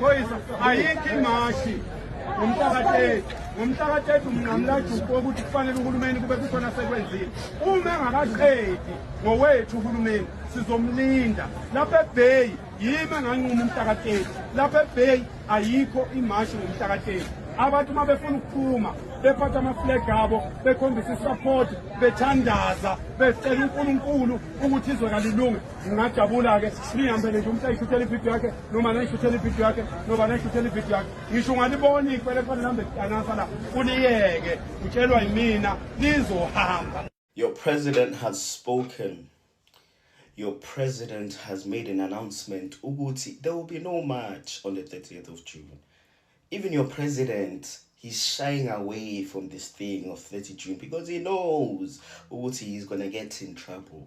Phoyisa ayikho imashi ngomhlaka-30 ngomhlaka-30 mnqamulajuqu wokuthi kufanele uhulumeni kube kukhona sekwenzile uma engakaqedi ngowethu uhulumeni sizomlinda lapha ebheyi yimi enganquma umhlaka-30 lapha ebheyi ayikho imashi ngomhlaka-30 abantu uma befuna ukuphuma bephatha amaflag abo bekhombisa isupport bethandaza becela unkulunkulu ukuthi izwe kalilunge ngingajabula-ke niyihambele nje umuntu ayishuthele ibhido yakhe noma nayishuthele ibhido yakhe noba nayishuthele ibhido yakhe ngisho ungaliboni kufanele kufanele lihambe lidanasa la uliyeke utshelwa yimina lizohamba Your president has spoken. Your president has made an announcement ukuthi there will be no march on the 30th of June. Even your president he's shying away from this thing of 30 June because he knows ukuthi he's going to get in trouble.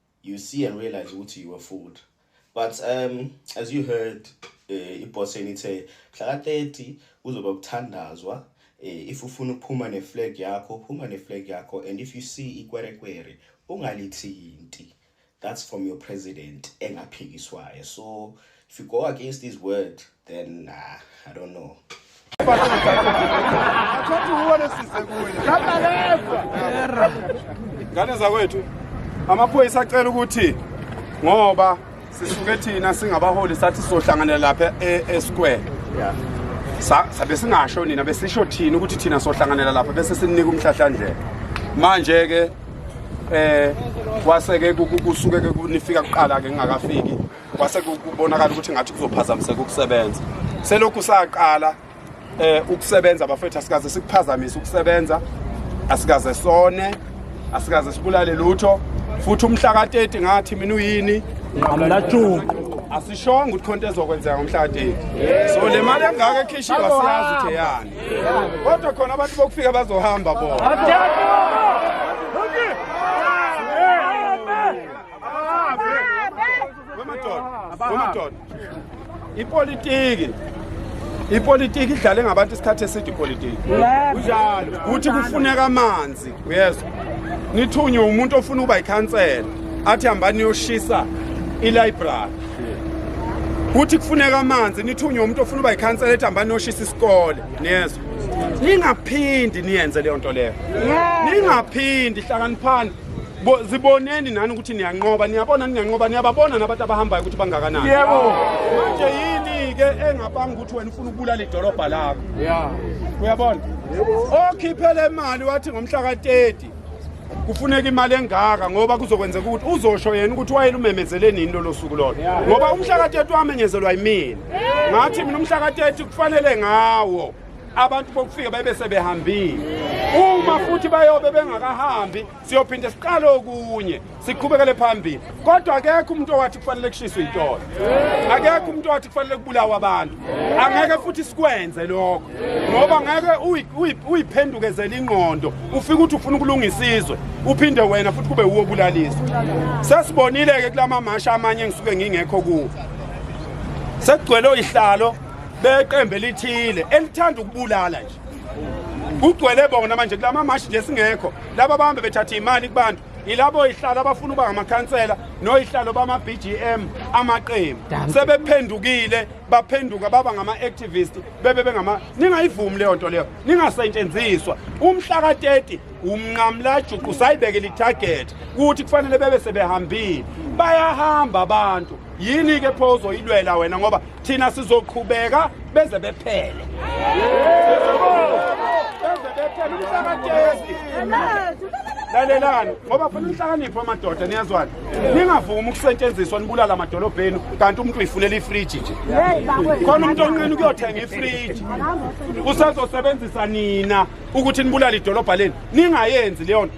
you see and realize ukuthi you were fooled but um as you heard uh, eh, iboss enithe mhla ka 30 kuzoba kuthandazwa eh, if ufuna ukuphuma ne flag yakho phuma ne flag yakho and if you see ikwerekwere ungalithinti that's from your president engaphikiswayo so if you go against his word then nah, i don't know ngane zakwethu amaphoyisa acela ukuthi ngoba sisuke thina singabaholi sathi sohlanganela lapha e-, esquare sabe singasho nina besisho thina ukuthi thina sohlanganela lapha bese sininika umhlahlandlela manje ke eh kwase ke kusuke ke kunifika kuqala ke ngingakafiki kwase kubonakala ukuthi ngathi kuzophazamiseka ukusebenza selokhu saqala eh ukusebenza bafethu asikaze sikuphazamise ukusebenza asikaze sone asikaze sibulale lutho futhi umhla ka-30 ngathi mina uyini nqamela juqu asishonga ukuthi khonto ezokwenzeka ngomhlateni so le mali engaka ekhishiwa siyazi ukuthi eyani kodwa khona abantu bokufika bazohamba bona ipolitiki ipolitiki idlale ngabantu isikhathi eside ipolitiki kuthi kufuneka amanzi uyezwa nithunywe umuntu ofuna ukuba yikhansela athi hambani niyoshisa ilibrary kuthi kufuneka amanzi nithunywe umuntu ofuna uba yikhansela ethi hambani niyoshisa isikole niyezwa ningaphindi niyenze leyo nto leyo ningaphindi hlakaniphani Bo, ziboneni nani ukuthi niyanqoba niyabona niyanqoba niyababona nabantu abahambayo ukuthi bangakanani yebo manje yini ke engapanga ukuthi wena ufuna ukubulala idolobha lakho yeah uyabona okhiphele imali wathi ngomhla ka-30 kufuneka imali engaka ngoba kuzokwenzeka ukuthi uzosho yena ukuthi wayele umemezele nini lolo suku lolo ngoba umhla ka-30 wamenyezelwa yimina ngathi mina umhla ka-30 kufanele ngawo abantu bokufika bebe sebehambile uma futhi bayobe bengakahambi siyophinde siqale okunye siqhubekele phambili kodwa akekho umuntu owathi kufanele kushiswe intolo akekho umuntu owathi kufanele kubulawa abantu angeke futhi sikwenze lokho ngoba ngeke uyiphendukezele ingqondo ufike ukuthi ufuna ukulungisa izwe uphinde wena futhi kube wuwo obulaliswa sesibonile-ke kula mamashi amanye engisuke ngingekho kuwo sekugcwele oyihlalo beqembe lithile elithanda ukubulala nje kugcwele bona manje kulama mashi nje singekho laba bahambe bethatha imali kubantu ilabo ihlalo abafuna uba ngamakhansela noyihlalo bama-bgm amaqembu sebephendukile baphenduka baba ngama-activist bebe bengama ningayivumi leyo nto leyo ningasetshenziswa umhla ka-30 umnqamlajuqu sayibeke lithagethi ukuthi kufanele bebe sebehambile bayahamba abantu yini-ke pho uzoyilwela wena ngoba thina sizoqhubeka beze bephele beze bephele umhlakatezi lalelani ngoba funa inhlakanipho amadoda niyazwana ningavumi ukusetshenziswa nibulala amadolobha enu kanti umuntu uyifunela ifriji nje khona umuntu onqeni ukuyothenga ifriji usazosebenzisa nina ukuthi nibulale idolobha lenu ningayenzi leyo nto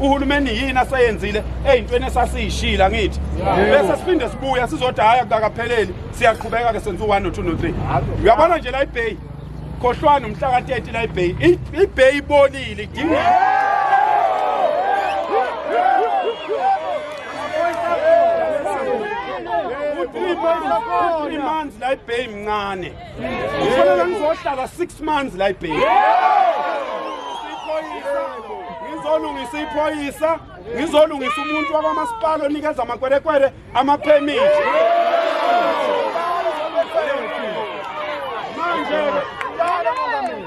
uhulumeni yini aseyenzile eyintweni esasiyishila ngithi bese siphinde sibuya sizothi hayi akakapheleli siyaqhubeka ke senza u-1 no-2 no-3 uyabona nje la ibheyi khohlwani umhla ka-30 la ibheyi ibheyi ibonile idinga three months la ibheyi mncane Kufanele ngizohlala 6 months la ibheki. Ngizolungisa iphoyisa, ngizolungisa umuntu wakwamasipala onikeza amakwerekwere ama permit. Manje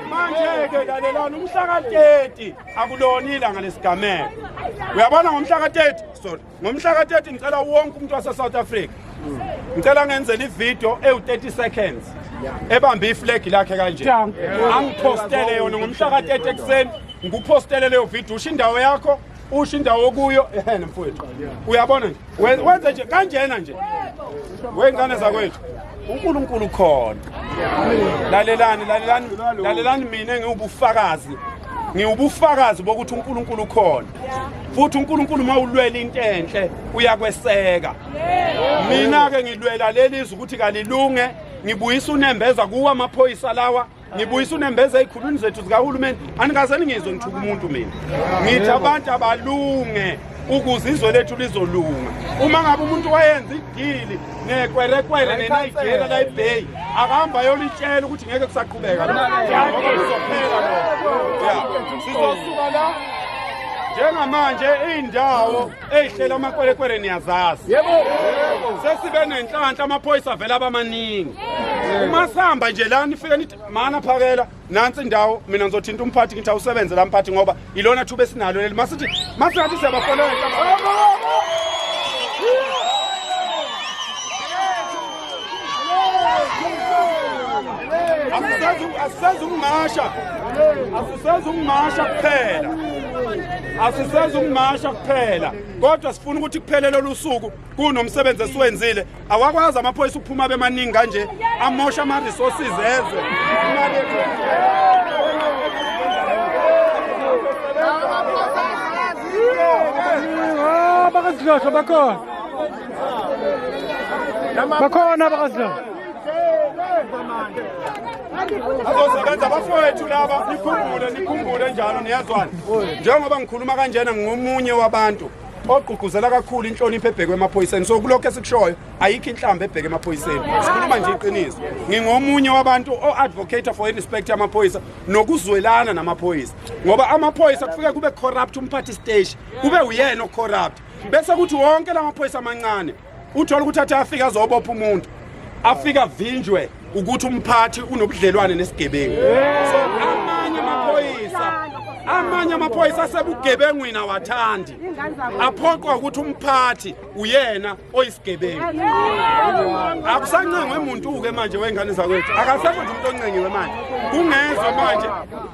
manje ke lalelana umhla ka 30 akulona ilanga lesigameko. Uyabona ngomhla ka 30 sorry. ngomhla ka-30 ngicela wonke umuntu wase-south africa ngicela ngenzela ividiyo ewu-30 seconds ebambe iflegi lakhe kanje angiphostele yona ngomhla ka-30 ekuseni ngikuphostele leyo vidiyo usho indawo yakho usho indawo okuyo ehene mfowethu uyabona nje wenze nje kanjena nje wey'ngane zakwethu unkulunkulu khona lalelani lalelani lalelani mina ngiwubufakazi ngiwubufakazi bokuthi unkulunkulu khona futhi uNkulunkulu mawulwela into enhle uyakweseka mina ke ngilwela leli izwi ukuthi kalilunge ngibuyisa unembeza kuwa amaphoyisa lawa ngibuyisa unembeza ezikhulwini zethu zikahulumeni anikaze ningizwe ngithuka umuntu mina ngithi abantu abalunge ukuze izwe lethu lizolunga uma ngabe umuntu wayenza idili ngekwerekwere nenayigera layibay akahamba yolitshela ukuthi ngeke kusaqhubeka kuzophela sizosuka la njengamanje iy'ndawo ey'hlela amakwerekwere niyazazi sesibe nenhlanhla amaphoyisa avele abamaningi uma sihamba nje la nifike nithi mana phakela nansi indawo mina ngizothinta umphathi ngithi awusebenze la mphathi ngoba ilona thuba esinalo leli masithi masingathi siyabafonela asisazi ukumasha asisazi ukumasha kuphela asisazi ukumasha kuphela kodwa sifuna ukuthi kuphele lolu suku kunomsebenzi esiwenzile awakwazi amaphoyisa ukuphuma bemaningi kanje amosha ama-resources ezwe bakazidlosho bakhona bakhona bakazidlosho azosebenza bafowethu laba nikhumbule nikhumbule njalo niyazwana njengoba ngikhuluma kanjena ngingomunye wabantu ogqugquzela kakhulu inhlonipho ebhekwe emaphoyiseni so kulokho esikushoyo ayikho inhlamba ebheke emaphoyiseni sikhuluma nje iqiniso ngingomunye wabantu o-advocate for irespect yamaphoyisa nokuzwelana namaphoyisa ngoba amaphoyisa kufike kube corrupt umphathi stage kube uyena ocorrupt bese kuthi wonke la maphoyisa amancane uthola ukuthi athi afike azobopha umuntu afika vinjwe ukuthi umphathi unobudlelwane nesigebengu so amanye amaphoyisa amanye amaphoyisa asebugebengwini awathandi aphoqwa ukuthi umphathi uyena oyisigebengu akusancengwe muntu-ke manje wey'ngane zakwethu akasekho nje umuntu oncengiwe manje kungezwe manje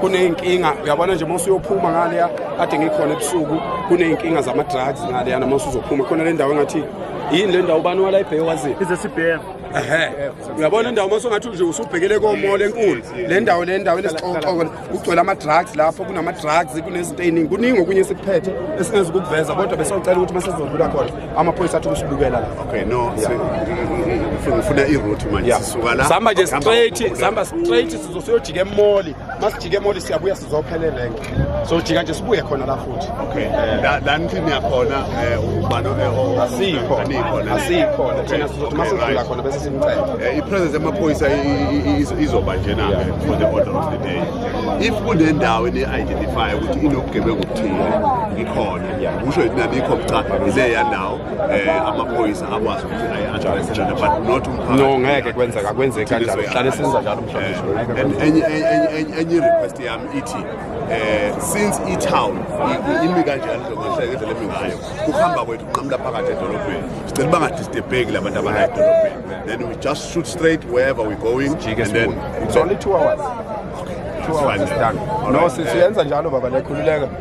kuney'nkinga uyabona nje uma usuyophuma ngaleya kade ngikhona ebusuku kuney'nkinga zama-drugs ngaleya noma usuzophuma khona le ndawo engathi yini le ndawo ubani wala ibheke waziyo ehe uyabona indawo uma songathi nje usubhekele komola enkulu le ndawo le ndawo enesixokoxoko kugcwele ama-drugs lapho kunama-drugs kunezinto ey'ningi kuningi okunye esikuphethe esingezi ukukuveza kodwa besiyocela ukuthi uma sezodlula khona amaphoyisa athi ukusibukela la okay no ngifuna iroute manje sisuka la sihamba nje straight sihamba straight sizosiyojika emoli masijika emoli siyabuya sizophelela enke sojika nje sibuye khona la futhi okay eh, la nithini yakhona eh, ubani eh, asikho asikho thina sizothi masidlula khona bese simcela i-presence yamaphoyisa izoba nje na for the order of the day if kunendawo ne-identify ukuthi inobugebengu obuthile ngikhona kusho yini abikho cha ileya nawo eh amaphoyisa akwazi ukuthi ayi address njalo but not umphakathi no ngeke kwenzeka kwenzeka kanjalo hlale senza njalo mhlawumbe eh, enye enye request yami ithi eh since i town imi kanjalo njengoba indlela emi ngayo kuhamba kwethu qamla phakathi edolobheni sicela bangadistebheki labantu abala edolobheni then we just shoot straight wherever we're going and then it's only 2 hours 2 hours is done no sisiyenza njalo baba lekhululeka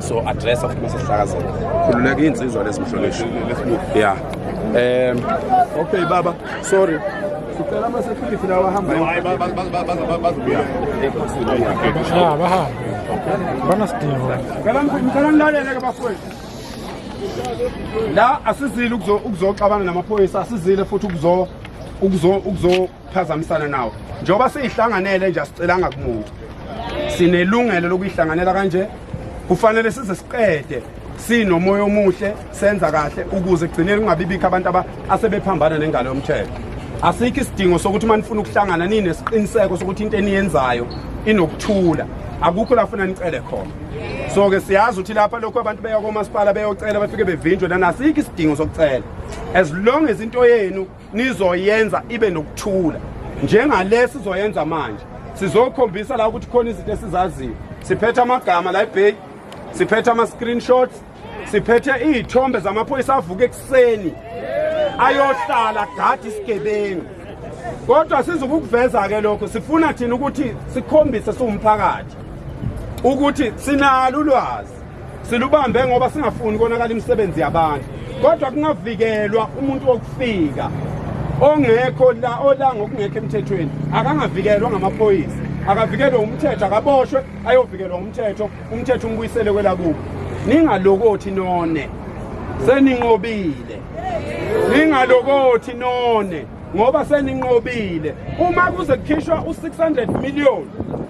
so address of mase sihlakazela khululeka insizwa lesimhlonishwa yeah um okay baba sorry sicela ama security lawa hamba hayi bazobuya ah baha banasidingo ngicela ngicela ngilalele ke bafowethu la asizile ukuzo ukuzoxabana namaphoyisa asizile futhi ukuzo ukuzo ukuzo phazamisana nawo njengoba siyihlanganele nje asicelanga kumuntu sinelungelo lokuyihlanganela kanje kufanele size siqede sinomoya omuhle senza kahle ukuze kugcinele kungabibikho abantu asebephambana nengalo yomthetho asikho isidingo sokuthi uma nifuna ukuhlangana ninesiqiniseko sokuthi into eniyenzayo inokuthula akukho la funa nicele khona so ke siyazi ukuthi lapha lokho abantu beya komasipala beyocela bafike bevinjwe nanasikho isidingo sokucela as long as into yenu nizoyenza ibe nokuthula njengale sizoyenza manje sizokhombisa la ukuthi khona izinto esizaziyo siphethe amagama la ebheki siphethe ama-screenshots siphethe iy'thombe zamaphoyisa avuka ekuseni ayohlala gadi isigebengu kodwa sizukukuveza-ke lokho sifuna thina ukuthi sikhombise siwumphakathi ukuthi sinalo ulwazi Silubambe ngoba singafuni konakala imisebenzi yabantu. Kodwa kungavikelwa umuntu wokufika ongekho la ola ngokungekho emthethweni akangavikelwa ngamaphoyisa akavikelwe umthetho akaboshwe ayovikelwa umthetho umthetho umbuyisele kwelakubo ningalokothi none seninqobile ningalokothi none ngoba seninqobile uma kuze kukhishwa u600 million